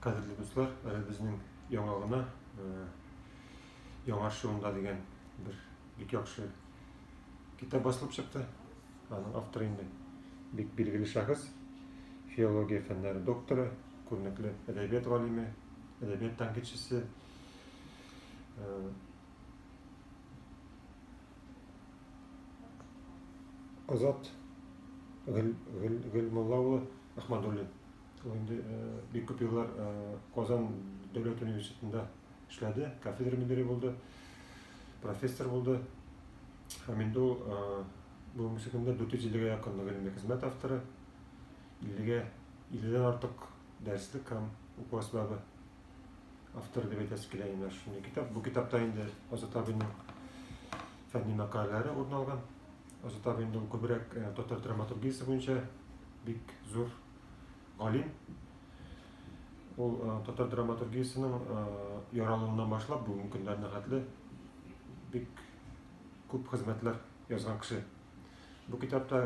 Кадерле дуслар, э, безнең яңа гына э, яңа шуында дигән бер бик яхшы китап басылып чыкты. Аның авторы инде бик билгеле шәхес, филология фәннәре докторы, күренекле әдәбият галиме, әдәбият тәнкыйтьчесе. Э, Азат Гөл, Гөл, Гөлмулла улы Ахмадуллин. Ул инде э, бик күп еллар э, Казан дәүләт университетында эшләде, кафедра мөдире булды, профессор булды. Һәм инде ул э, бүгенге көндә 450-гә якын гыйльми хезмәт авторы, 50-гә 50-дән артык дәреслек һәм уку әсбабы автор дип әйтәсе килә инде шундый китап бу китапта инде азат абыйның фәнни мәкаләләре урын алган азат абый инде ул күбрәк э, татар драматургиясе буенча бик зур галим ул э, татар драматургиясенең э, яралуыннан башлап бүгенге көннәренә хәтле бик күп хезмәтләр язган кеше бу китапта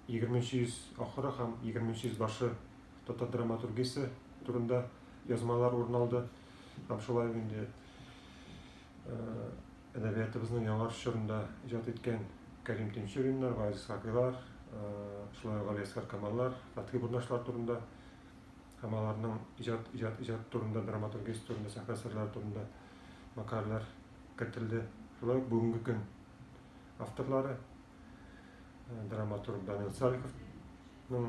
егерменче йөз ахыры һәм егерменче йөз башы татар драматургиясе турында язмалар урын алды. Һәм шулай ук инде әдәбиятыбызның яңарыш чорында иҗат иткән Кәрим Тинчуриннар, Газиз Хакыйлар, шулай ук Галиәсгар Камаллар, Фатхи Бурнашлар турында һәм аларның иҗат иҗат иҗат турында, драматургиясе турында, сәхнә әсәрләре турында мәкаләләр кертелде. Шулай ук бүгенге көн авторлары драматург Данил Салиховның